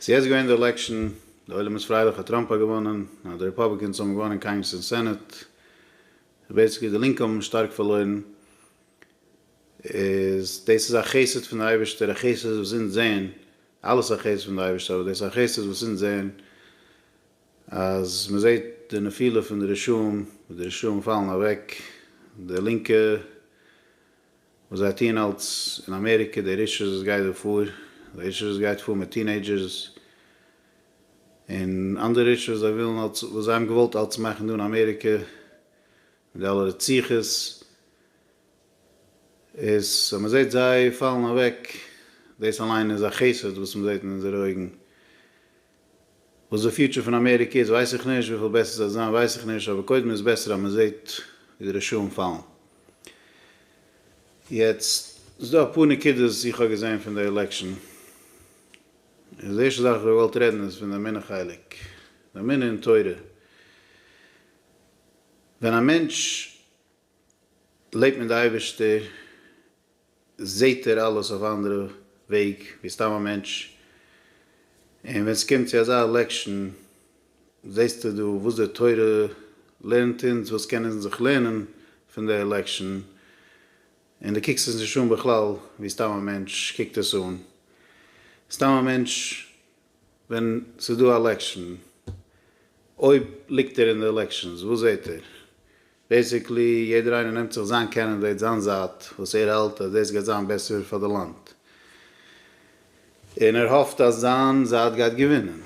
ס'איז יעצט געווען די עלעקשאן, די עולם איז פרייליך אז טראמפ האט געוואנען, אז די רעפאבליקענס האבן געוואנען קאנגרעס און סענעט, און בעיסיקלי די לינקע האבן שטארק פארלוירן, איז דאס איז א חסד פון די אייבערשטער, א חסד וואס אונז זעען, אלעס א חסד פון די אייבערשטער, אבער דאס איז א חסד וואס אונז זעען, אז מען זעט די נפילה פון די רשעים, ווי די רשעים פאלן אוועק, די לינקע. וואס זיי טוען אלץ אין אמעריקע, די רישעס וואס גייט דא פאר, די רישעס וואס גייט פאר מיט טינעידזשערס, און אנדערע רישעס וואס זיי ווילן אלץ, וואס זיי האבן געוואלט אלץ מאכן דא אין אמעריקע, מיט די אלע רציחות, איז אז מען זעט זיי פאלן אוועק, דאס אליין איז א חסד וואס מען זעט אין אונזערע אויגן, וואס די פיוטשער פון אמעריקע איז ווייס איך נישט, וויפיל בעסער ס'וועט זיין ווייס איך נישט, אבער קודם איז בעסער אז מ'זעט ווי די רשעים פאלן. יעצט, ס'איז דא אפאר נקודות וואס איך האב געזען פון די עלעקשאן, און די ערשטע זאך וואס איך האב געוואלט רעדן איז פון די אמונה חלק, די אמונה אין תורה. ווען א מענטש לעבט מיט די אייבערשטער זעהט ער אלעס אויף א אנדערע וועג ווי סתם א מענטש, און ווען סקומט צו אזא עלעקשאן זעהסטו דא וואס די תורה לערנט אונז, וואס קען אונז זיך לערנען פון די עלעקשאן, און דו קוקסט עס נישט אן בכלל ווי סתם א מענטש קוקט עס אן, סתם א מענטש ווען ס'איז דא עלעקשאן אויב ליגט ער אין די עלעקשאנס וואס זעהט ער? בעיסיקלי יעדער איינער נעמט זיך זיין קענדידעיט זיין זייט וואס ער האלט אז דאס גייט זיין בעסער פאר די לאנד און ער האפט אז זיין זייט גייט געווינען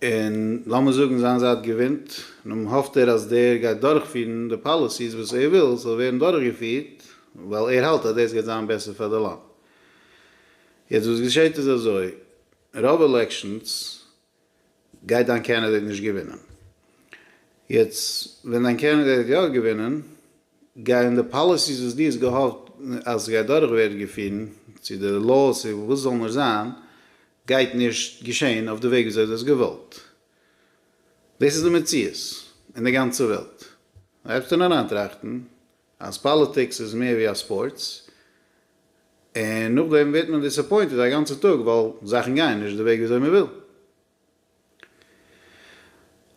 און לאמיר זאגן זיין זייט געווינט נו האפט ער אז דער גייט דורכפירן די פאליסיס וואס ער וויל ס'זאל ווערן דורכגעפירט ווייל ער האלט אז דאס גייט זיין בעסער פאר די לאנד יעצט וואס געשעהט איז אזוי רוב עלעקשאנס גייט דיין קענדידעיט נישט געווינען. יעצט ווען דיין קענדידעיט האט יא געווינען, גייען די פאליסיס וואס דו האסט געהאפט אז ס'גייט דורך ווערן געפירן, צו די לאוס און וואס ס'זאל נאר זיין, גייט נישט געשען אויף די וועג וויאזוי דו האסט געוואלט. דאס איז די מציאות אין די גאנצע וועלט. דארפסטו אריינטראכטן. אז פאליטיקס איז מער ווי א ספארטס, און נאכדעם ווערט מען דיסעפוינטעד א גאנצע טאג ווייל זאכן גייען נישט די וועג וויאזוי מען וויל.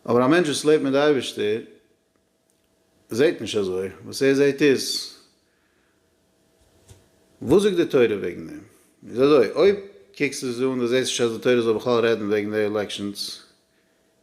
אבער א מענטש וואס לעבט מיט די אייבערשטער זעט נישט אזוי, וואס ער זעט איז, וואס זאגט די תורה וועגן דעם? איז אזוי, אויב קוקסטו עס אן, די זעסט נישט אז די תורה זאל בכלל רעדן וועגן די עלעקשאנס,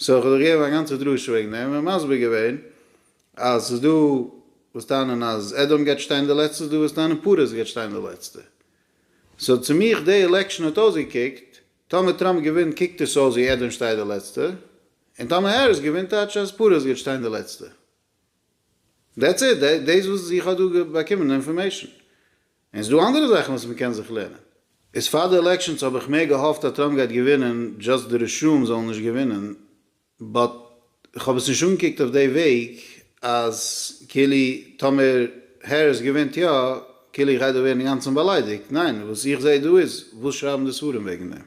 סאו כ'האב דאך געגעבן א גאנצע דרשה וועגן דעם און מסביר געווען אז ס'איז דא וואס טענה'ן אז עדאם גייט שטיין די לעצטע ס'איז דא וואס טענה'ן פרס גייט שטיין די לעצטע סאו צו מיך די עלעקשאן האט אויסגעקוקט טאמער טראמפ געווינט קוקט עס אויס ווי עדאם שטייט די לעצטע און טאמער העריס געווינט טייטש אז פרס גייט שטיין די לעצטע דעטס איט דעיס וואס איך האב דא באקומען די אינפארמעישאן און ס'דא אנדערע זאכן וואס מ'קען זיך לערנען. איז פאר די עלעקשאנס האב איך מער געהאפט אז טראמפ גייט געווינען דזשאסט די רשעים זאלן נישט געווינען, באט כ'האב עס נישט אנגעקוקט אויף די וועג אז כאילו טאמער העריס געווינט יא כאילו איך גיי דא ווערן אינגאנצן באליידיגט, ניין וואס איך זעה דא איז וואס שרייבן די ספרים וועגן דעם?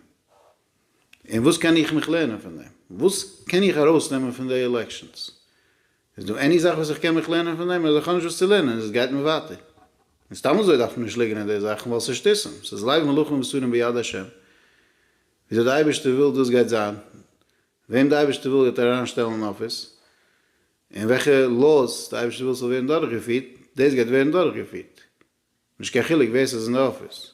און וואס קען איך מיך לערנען פון דעם? וואס קען איך ארויסנעמען פון די עלעקשאנס? איז דא עני זאך וואס איך קען מיך לערנען פון דעם אדער איך האב נישט וואס צו לערנען און עס גייט מיר ווייטער? און סתם אזוי דארף מען נישט ליגענען די זאכן ווייל ס'איז שטותים, ס'איז לב מלכים ובשרים ביד השם, וויאזוי די אייבערשטער וויל דאס גייט זיין, וועם די אייבערשטער וויל וועט ער אריין שטעלן אין אפיס, און וועלכע laws די אייבערשטער וויל ס'זאל ווערן דורכגעפירט, דאס גייט ווערן דורכגעפירט. נישט קיין חילוק ווער ס'איז אין די אפיס.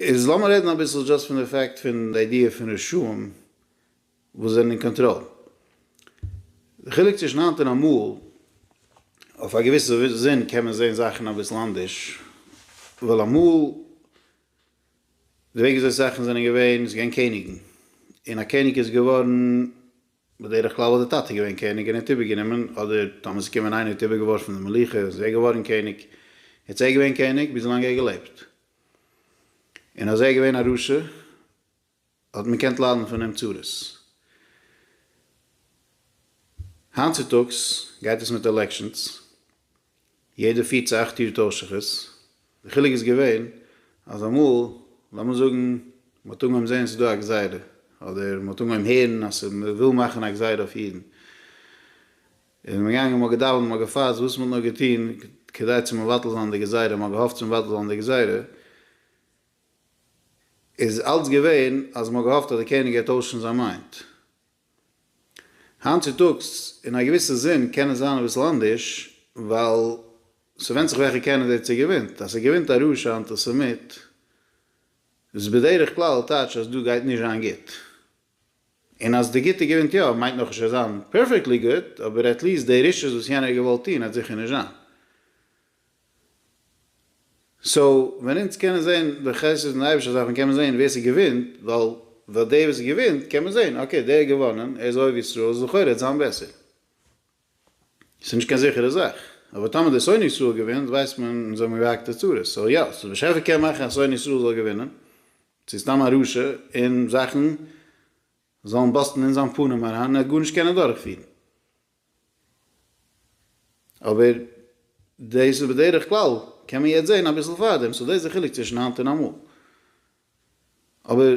איז לאמיר רעדן אביסל דזשאסט פון די פעקט פון די איידיע פון רשעים וואס זענען אין קאנטראל. די חילוק צווישן היינט און אמאל, אויף א געוויסע זין קען מען זען זאכן אביסל אנדערש, ווייל אמאל די וועג וויאזוי זאכן זענען געווען, ס'איז געווען קעניגן, און א קעניג איז געווארן, בדרך כלל האט די טאטע געווען קעניג און ער האט איבערגענומען, אדער טאמער ס'איז געווען איינער האט איבערגעווארפן די מלוכה איז ער געווארן קעניג, יעצט ער געווען קעניג ביז לאנג ער האט געלעבט, און אז ער געווען א רשע האט מען געקענט ליידן פון אים צרות. היינט צוטאגס גייט עס מיט עלעקשאנס. יעדע פיר צו אכט יאר טויש איך עס, די חילוק איז געווען אז אמאל לאמיר זאגן מ'האט אנגעהויבן זען ס'דא א גזירה, אדער מ'האט אנגעהויבן הערן אז ס'וויל מאכן א גזירה אויף אידן, איז מען געגאנגען מ'האט געדאווענט מ'האט געפאסט וואס מ'האט נאר געטון כדי צו מבטל זיין די גזירה, מ'האט געהאפט צו מבטל זיין די גזירה, איז אלץ געווען אז מ'האט געהאפט אז די קעניג גייט טוישן זיין מיינד. היינט צוטאגס, אין א געוויסע זין, קען עס זיין אביסל אנדערש, ווייל ס'ווענדט זיך וועלכע קענדידעיט ס'געווינט. אז ס'געווינט א רשע אנטיסעמיט, איז בדרך כלל טייטש אז דא גייט נישט זיין גוט. און אז די גוטע געווינט יא, מיינט נאך נישט עס זיין פערפעקטלי גוט, אבער עטליעסט די רישעות וואס יענער האט געוואלט טון, העט זיכער נישט זיין. סאו ווען אונז קענען זעהן די חסד פון אייבישטער דארף מען קענען זעהן ווער ס'געווינט ווייל ווייל דער וואס געווינט קען מען זעהן אקעי דער האט געוואנען ער איז אוהב ישראל איז לכאורה וועט זיין בעסער ס'איז נישט קיין זיכערע זאך אבער טאמער דער שונא ישראל געווינט ווייסט מען אונז האבן געהאקט די צרות סאו יא סאו באשעפער קען מאכן אז שונא ישראל זאל געווינען צו סתם א רשע און זאכן זאלן באסטן אין זיין פנים אריין און ער האט גארנישט קענען דורכפירן. אבער דאס איז בדרך כלל, קען מען יעצט זען אביסל פארדעם, סאו דאס איז די חילוק צווישן היינט און אמאל. אבער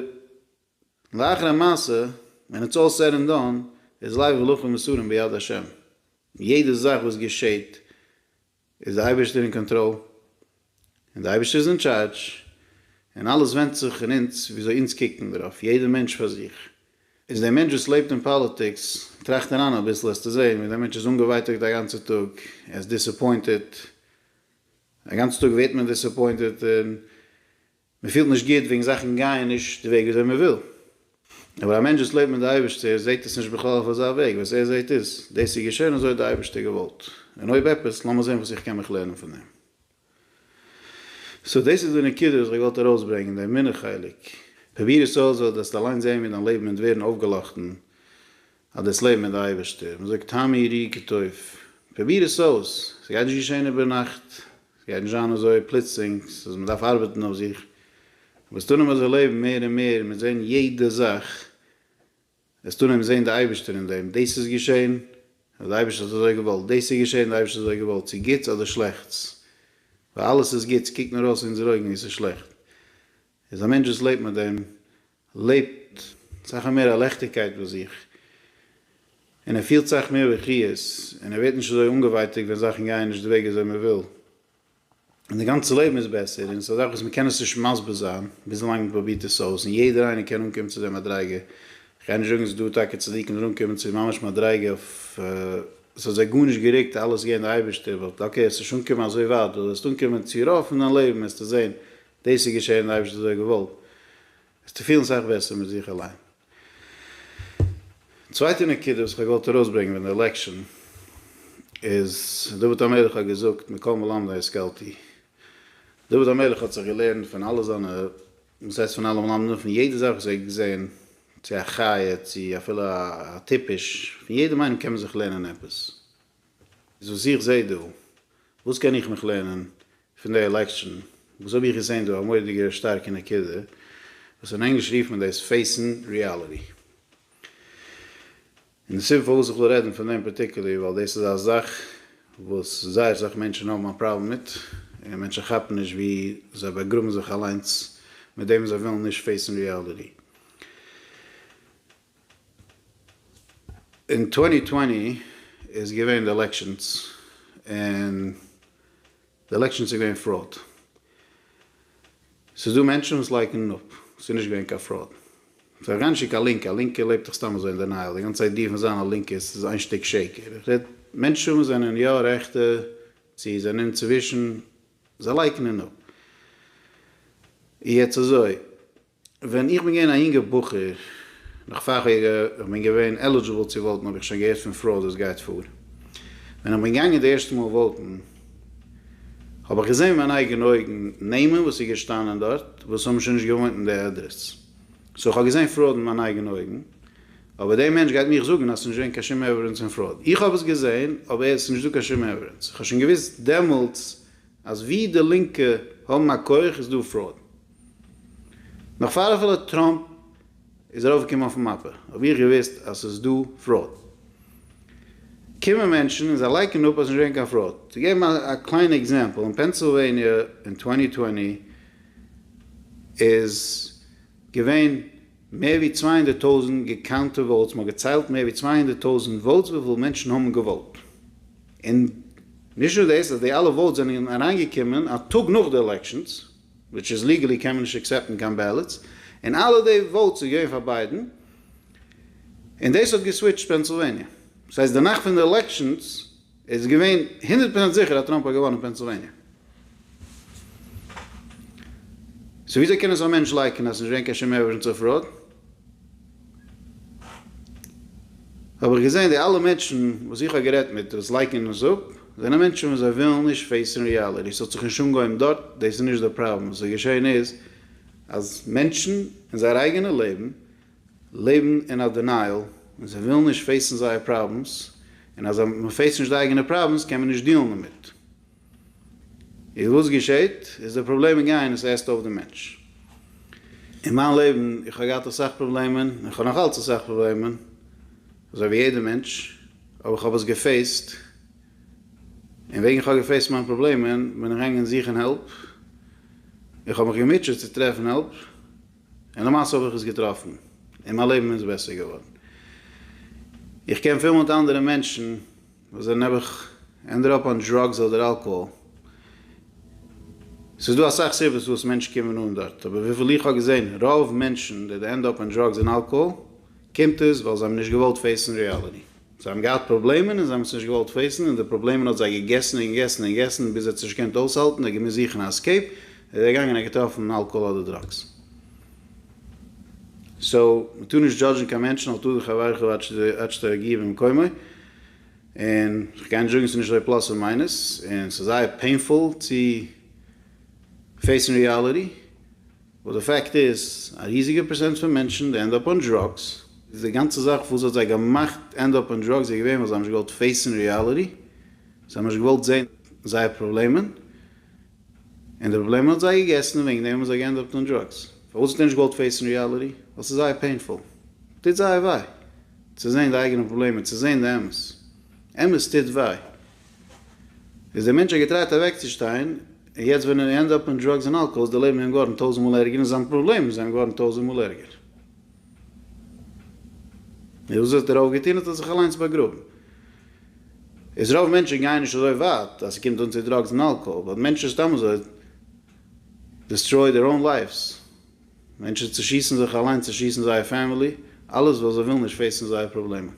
לאחר המעשה, ווען איטס אלל סעד ענד דאן, איז לייב ולחם מסורים ביד השם. יעדע זאך וואס געשעט איז די אייבערשטער אין קאנטראל און די אייבערשטער איז אין טשארדזש און אלעס ווענדט זיך אין אונז וויאזוי אונז קוקן דערויף יעדער מענטש פאר זיך איז דער מענטש וואס לעבט אין פאליטיקס טראכט אריין אביסל העסטו זעהן ווי דער מענטש איז אנגעווייטאגט א גאנצע טאג ער איז דיסעפוינטעט א גאנצע טאג ווערט מען דיסעפוינטעט און מען פילט נישט גוט וועגן זאכן גייען נישט די וועג וויאזוי מען וויל, אבער א מענטש וואס לעבט מיט די אייבערשטער זעט עס נישט בכלל אויף אזא וועג, וואס ער זעט איז, דאס איז געשען אזוי האט די אייבערשטער געוואלט, און אויב עפעס, לאמיר זען וואס איך קען מיך לערנען פון דעם. סאו דאס איז די נקודה וואס איך וואלט ארויסברענגען, די אמונה חלק. פרוביר עס אויס וועט דאס אליין זען ווי דיין לעבן וועט ווערן אויפגעלאכטן אז דאס לעבן מיט די אייבערשטער, מען זאגט טעמי ראי כטוב, פרוביר עס אויס, סגייט נישט געשען איבערנאכט, ס'גייט נישט זיין אזוי פלוצלינג, ס'איז מ'דארף ארבעטן אויף זיך, אבער ס'טאר נעמען זיך לעבן מער און מער, מיט זען יעדע זאך, עס טאר נעמען זען די אייבערשטער אין דעם, דאס איז געשען, ווייל די אייבערשטער האט אזוי געוואלט, דאס איז געשען, די אייבערשטער האט אזוי געוואלט, צו גוטס אדער שלעכטס, ווייל אלעס איז גוט, ס'קוקט נאר אויס אונזערע אויגן ווי ס'איז שלעכט, איז א מענטש וואס לעבט מיט דעם, לעבט סאך א מער א לעכטיגקייט ביי זיך, און ער פילט סאך מער בחי', און ער ווערט נישט אזוי אנגעווייטאגט ווען זאכן גייען נישט די וועג אזוי מען וויל, און די גאנצע לעבן איז בעסער, און עס איז א זאך וואס מען קען עס נישט מסביר זיין, וויזאלאנג מען פרובירט עס אויס, און יעדער איינער קען אנקומען צו די מדריגה, איך גיי נישט זאגן עס איז דא טאקע צדיקים וואס אנקומען צו ממש מדריגה אויף עס האט זיי גארנישט גערוקט אלעס געבן די אייבערשטער, באט אקעי עס נישט אנקומען אזוי ווייט, דו וועסט אנקומען צו רוב פון דיין לעבן וועסטו זען דאס איז געשען אייביג אזוי געוואלט, וועסטו פילן סאך בעסער מיט זיך אליין. צווייטע נקודה וואס כ'האב געוואלט ארויסברענגען וועגן די עלעקשאן איז, דוד המלך האט געזאגט מכל מלמדי השכלתי, דוד המלך האט זיך געלערנט פון אלע זיינע, וואס הייסט פון אלע מלמדים, פון יעדע זאך וואס ער האט געזען, צו א חיה, צו אפילו א טיפש, פון יעדעם איינעם קען מען זיך לערנען עפעס. איז וואס איך זע דא, וואס קען איך מיך לערנען פון די עלעקשאן, וואס האב איך געזען דא א מורא'דיגע שטארקע נקודה, וואס אין ענגליש רופט מען דאס פעיסן ריאליטי. און די סיבה פארוואס איך וויל רעדן פון דעם פארטיקולער ווייל דאס איז א זאך וואס זייער סאך מענטשן האבן א פראבלעם מיט, און מענטשן כאפן נישט ווי זיי באגראבן זיך אליינס מיט דעם וואס זיי ווילן נישט פעיסן ריאליטי. אין טווענטי טווענטי איז געווען די עלעקשאנס און די עלעקשאנס איז געווען פראוד. ס'איז דא מענטשן וואס לייקענען אפ ס'איז נישט געווען קיין פראוד. כ'בין גארנישט קעגן קיין לינקע, א לינקע לעבט דאך סתם אזוי אין דענייעל, די גאנצע איידיע פון זיין א לינקע איז ס'איז איין שטיק שקר. איך רעד מענטשן וואס זענען יא רעכטע צו זענען אינצווישן, זיי לייקענען אפ. יעצט אזוי, ווען איך בין געווען א יונגער בחור, נאך פאר איך בין געווען עלידזשיבל צו וואוטן האב איך שוין געהערט פון פראוד וואס גייט פאר. ווען איך בין געגאנגען די ערשטע מאל וואוטן האב איך געזען מיט מיינע אייגענע אויגן נעמען וואס איז געשטאנען דארט וואס האבן שוין נישט געוואוינט אין די עדרעס. סאו איך האב געזען פראוד מיט מיינע אייגענע אויגן. אבער דער מענטש גייט מיך זאגן אז ס'איז נישט געווען קיין שום עווידענס פון פראוד. איך האב עס געזען אבער עס איז נישט דא קיין שום עווידענס. איך האב שוין געוואוסט דעמאלטס אז וואו די לינקע האבן א כח איז דא פראוד. נאך פאר אפילו טראמפ איז ארויפגעקומען אויפן מאפע האב איך געוויסט אז ס'איז דא פראוד. קומען מענטשן און זיי לייקענען אפ אז נישט געווען קיין פראוד. צו געבן א קליינע עקזעמפל, אין פענסילוועניע אין צוואַנצן צוואַנציק איז געווען מער ווי צוויי הונדערט טויזענט געקאונטע וואוטס, מ'האט געציילט מער ווי צוויי הונדערט טויזענט וואוטס וויפיל מענטשן האבן געוואוט. און נישט נאר דאס אז די אלע וואוטס זענען אריינגעקומען א טאג נאך די עלעקשאנס. וויטש איז ליגעלי קען מען נישט עקסעפטן קיין בעלעטס, און אלע די וואוטס איז געווען פאר ביידען, און דאס האט געסוויטשט פענסילוועניע, דאס הייסט די נאכט פון די עלעקשאנס איז געווען הונדערט פראצענט זיכער אז טראמפ האט געוואנען פענסילוועניע, סאו וויאזוי קען עס א מענטש לייקענען אז ס'איז נישט געווען קיין שום עווידענס אויף פראוד? האב איך געזען די אלע מענטשן וואס איך האב גערעדט מיט וואס לייקענען עס אפ, זענען מענטשן וואס זיי ווילן נישט פעיסן ריאליטי, ס'האט זיך נישט אנגעהויבן דארט, דאס איז נישט די פראבלעם, וואס איז געשען איז אז מענטשן אין זייער אייגענע לעבן, לעבן אין א דינייעל, און זיי ווילן נישט פעיסן זייער פראבלעמס, און אז מ'פעיסט נישט די אייגענע פראבלעמס קען מען נישט דיעלן דערמיט. איז וואס געשעהט? איז די פראבלעמען גייען? עס עסט אויף די מענטש. אין מיין לעבן, איך האב געהאט אסאך פראבלעמען, און איך האב נאך אלץ אסאך פראבלעמען, אזוי ווי יעדער מענטש, אבער איך האב עס געפעיסט, און וועגן איך האב געפעיסט מיין פראבלעמען, בין איך געגאנגען זוכן העלפ, איך האב מיך געמוטשעט צו טרעפן העלפ, און למעשה האב איך עס געטראפן, און מיין לעבן איז בעסער געווארן. איך קען פיל מיט אנדערע מענטשן. וואס זענען נעבעך ענדער אפ אן דראגס אדער אלקאהאל. ס'איז דא אסאך סיבות פארוואס מענטשן קומען אן דארט, אבער וויפיל איך האב געזעהן רוב מענטשן די די ענד אפ אן דראגס און אלקאהאל קומט עס ווייל זיי האבן נישט געוואלט פעיסן ריעליטי. זיי האבן געהאט פראבלעמען און זיי האבן עס נישט געוואלט פעיסן און די פראבלעמען האט זיי געגעסן און געגעסן און געגעסן ביז ער האט עס נישט געקענט אויסהאלטן ער האט געמוזט זוכן א עסקעיפ איז ער געגאנגען און געטראפן אלקאהאל אדער דראגס. סאו מ'טאר נישט דזשאדזשן קיין מענטשן אל תדחי עברך ועד שתגיע במקומו. און כ'גיי נישט זאגן ס'איז נישט אזוי פלאס און מיינוס, און ס'איז זייער פעינפול צו פעיסן ריאליטי, באט די פעקט איז, א ריזיגע פערסענט פון מענטשן די ענד אפ אן דראגס, איז די גאנצע זאך וואס האט זיי געמאכט ענד אפ אן דראגס איז געווען ווייל זיי האבן נישט געוואלט פעיסן ריאליטי, זיי האבן נישט געוואלט זעהן זייער פראבלעמען, און די פראבלעם האט זיי געגעסן און וועגן דעם האבן זיי געענדיגט אן דראגס. פארוואס האט ער נישט געוואלט פעיסן ריאליטי? ווייל ס'איז זייער פעינפול. טוט זייער וויי צו זעהן די אייגענע פראבלעם און צו זעהן די אמת. אמת טוט וויי. איז דער מענטש האט געטרייט אוועקצושטיין און יעצט ווען ער ענד אפ אין דראגס און אלקאהאל איז די לעבן איהם געווארן טויזענט מאל ערגער און זיין פראבלעם איז איהם געווארן טויזענט מאל ערגער. און וואס האט רוב געטון? האט ער זיך אליינס באגראבן. איז רוב מענטשן גייען נישט אזוי ווייט אז ס'קומט אן צו דראגס און אלקאהאל, ווייל מענטשן סתם אזוי דיסטרויד דעיר אן לייווס, מענטשן צושיסן זיך אליינס, צושיסן זייער פעמילי, אלעס ווייל זיי ווילן נישט פעיסן זייער פראבלעמען.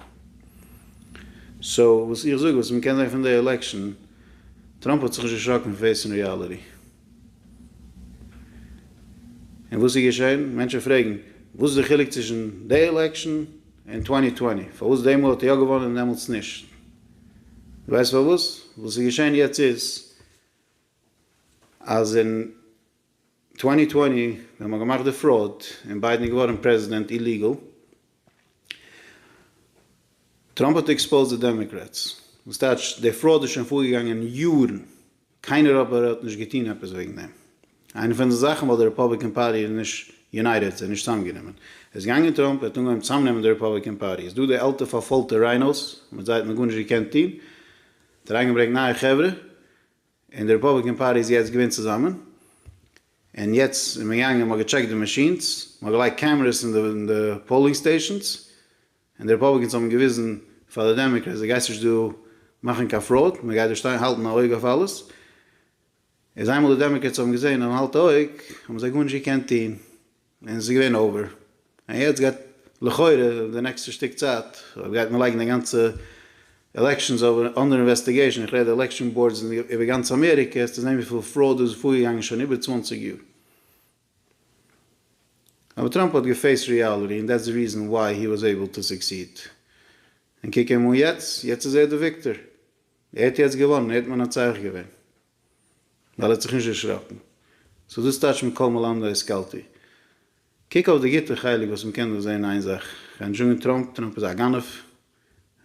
סאו וואס איך זאג, וואס מ'קען זען פון די עלעקשאן, טראמפ האט זיך נישט דערשראקן פון פעיסן ריאליטי. און וואס איז געשען? מענטשן פרעגן, וואס איז די חילוק צווישן די עלעקשאן און טווענטי טווענטי? פארוואס די מאל האט ער יא געוואנען און דעמאלטס נישט? דו ווייסט פארוואס? וואס איז געשען יעצט איז, אז אין טווענטי טווענטי ווען מ'האט געמאכט די פראוד און ביידן איז געווארן פרעזידענט איליגעל, טראמפ האט עקספאוזט די דעמעקרעטס, וואס טייטש די פראוד איז שוין פארגעגאנגען יארן. קיינער אבער האט נישט געטון עפעס וועגן דעם. איינע פון די זאכן וואלט די רעפאבליקען פארטי איז נישט יונייטעד, זיי נישט צוזאמגענומען. עס איז געגאנגען טראמפ, ער האט אנגעהויבן צוזאמנעמען די רעפאבליקען פארטי. איז דא די עלטע פארפוילטע ריינאוס, מיט זיי האט מען גארנישט געקענט טון. ער האט אריינגעברענגט נייע חברה, און די רעפאבליקען פארטי איז יעצט געווען צוזאמען. און יעצט איז מען געגאנגען, מען האט געטשעקט די מאשינס, מען האט געלייגט קעמרעס אין די פאולינג סטעישאנס, און די רעפאבליקענס האבן געוויזן פאר די דעמעקרעטס די גייסט נישט דא מאכן קיין פראוד מען גייט דא שטיין האלטן א אויג אויף אלעס איז איינמאל די דעמעקרעטס האבן געזען און האלט אויג האבן זיי גארנישט געקענט טוהן און עס איז געווען אווער און יעצט גייט לכאורה די נעקסטע שטיק צייט אויב גייט מען לייגן די גאנצע עלעקשאנס אנדער אינוועסטיגעישן איך רעד עלעקשאן באורדס איבער גאנץ אמעריקע עסטו זען וויפיל פראוד איז פארגעגאנגען שוין איבער צוואַנציק יאר. אבער טראמפ האט געפעיסט ריאליטי און דעטס די ריזען וואי הי וואס עיבל טו סוקסיד. און קוק אים אן יעצט, יעצט איז ער די וויקטער. ער האט יעצט געוואנען, ער האט מנצח געווען. ווייל ער האט זיך נישט דערשראקן. סאו דאס טייטש מכל מלמדי השכלתי. קוק אויף די גוטע חלק וואס מ'קען דא זעהן איין זאך, כ'גיי נישט זאגן טראמפ, טראמפ איז א גנב,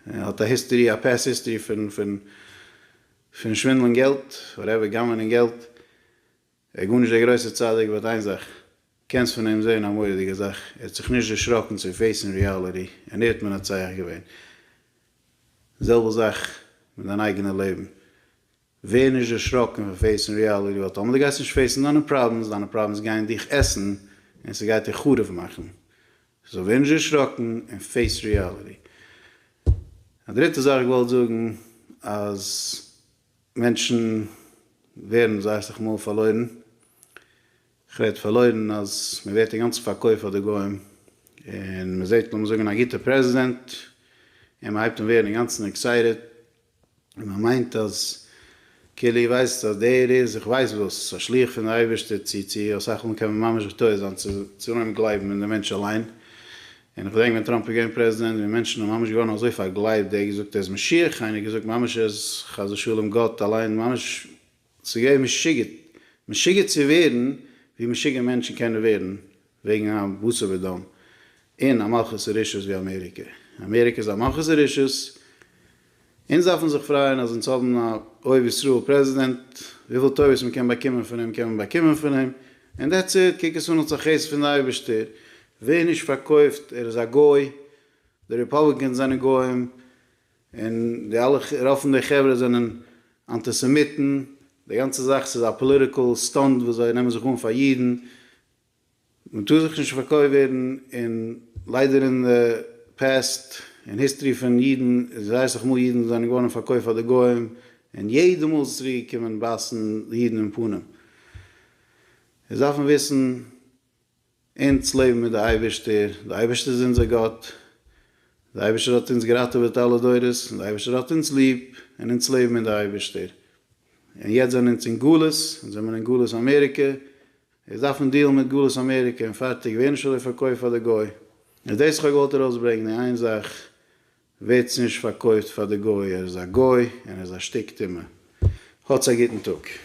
ער האט א היסטערי, א פעסט היסטערי פון פון פון שווינדלען געלט, וואטעווער, גנב'נען געלט. ער איז גארנישט דער גרויסער צדיק באט איין זאך קענסט פון אים זעהן א מורא'דיגע זאך ער האט זיך נישט דערשראקן צו פעיסן ריאליטי און ער האט מנצח געווען. זעלבע זאך מיט דיין אייגענע לעבן ווער נישט דערשראקן פון פעיסן ריאליטי ווייל טאמער דו גייסט נישט פעיסן דיינע פראבלעמס דיינע פראבלעמס גייען דיך עסן און ס'גייט דיר חרוב מאכן סאו ווער נישט דערשראקן און פעיס ריאליטי. א דריטע זאך איך וואלט זאגן אז. מענטשן ווערן זיי אסך מאל פארלוירן, כ'רעד פארלוירן אז מען ווערט אינגאנצן פארקויפט פאר די גוים, און מען זעט לאמיר זאגן א גוטע פרעזידענט, און מען הייבט אן ווערן אינגאנצן עקסייטעד, און מען מיינט אז כאילו איר ווייסט אז דער איז איך ווייס וואס, א שליח פון די אייבערשטער, צו צו אסך מאל קען מען ממש געטויעט זיין צו צו אנהייבן גלייבן אין די מענטש אליין, און איך געדענק ווען טראמפ איז געווען פרעזידענט ווי מענטשן האבן ממש געווארן אזוי פארגלייבט, דער האט געזאגט ער איז משיח, איינער האט געזאגט ממש ער איז חס ושלום גאט אליין, ממש ס'איז געווען משוגע, משוגע צו ווערן ווי משוגע מענטשן קענען ווערן וועגן א בשר ודם אין א מלכות הרשעות ווי אמעריקע, אמעריקע איז א מלכות הרשעות. אונז דארפן זיך פרייען אז אונז האבן א אוהב ישראל פרעזידענט, וויפיל טובות מען קען באקומען פון אים קען מען באקומען פון אים, און דעטס איט, קוק עס אן אלס א חסד פון די אייבערשטער, ווער נישט פארקויפט ער איז א גוי, די רעפאבליקענס זענען גוים, און די אלע רוב פון די חברה זענען אנטיסעמיטן, די גאנצע זאך ס'איז א פאליטיקעל סטאנד וואס זיי נעמען זיך אן פאר אידן, מען טאר זיך נישט פארקויפט ווערן, און ליידער אין די פעסט און היסטערי פון אידן איז ווייס איך מאל אידן זענען געווארן פארקויפט פאר די גוים און יעדע מאל ס'צוריק קומען בייסן די אידן אין פנים איז דארף מען וויסן אונז לעבן מיט די אייבערשטער די אייבערשטער איז אונזער גאט די אייבערשטער האט אונז געראטעוועט אלע דורות און די אייבערשטער האט אונז ליב און אונז לעבן מיט די אייבערשטער און יעצט זענען אונז אין גלות אונז זעמער אין גלות אמעריקע. איך דארף אן דיעל מיט גלות אמעריקע און פארטיג, ווער נישט אזוי פארקויפט פאר די גוי, איז דאס וואס איך האב געוואלט ארויסברענגן, אין איין זאך ווערטס נישט פארקויפט פאר די גוי, ער איז א גוי און ער איז א שטיק טומאה. האטס א גוטן טאג.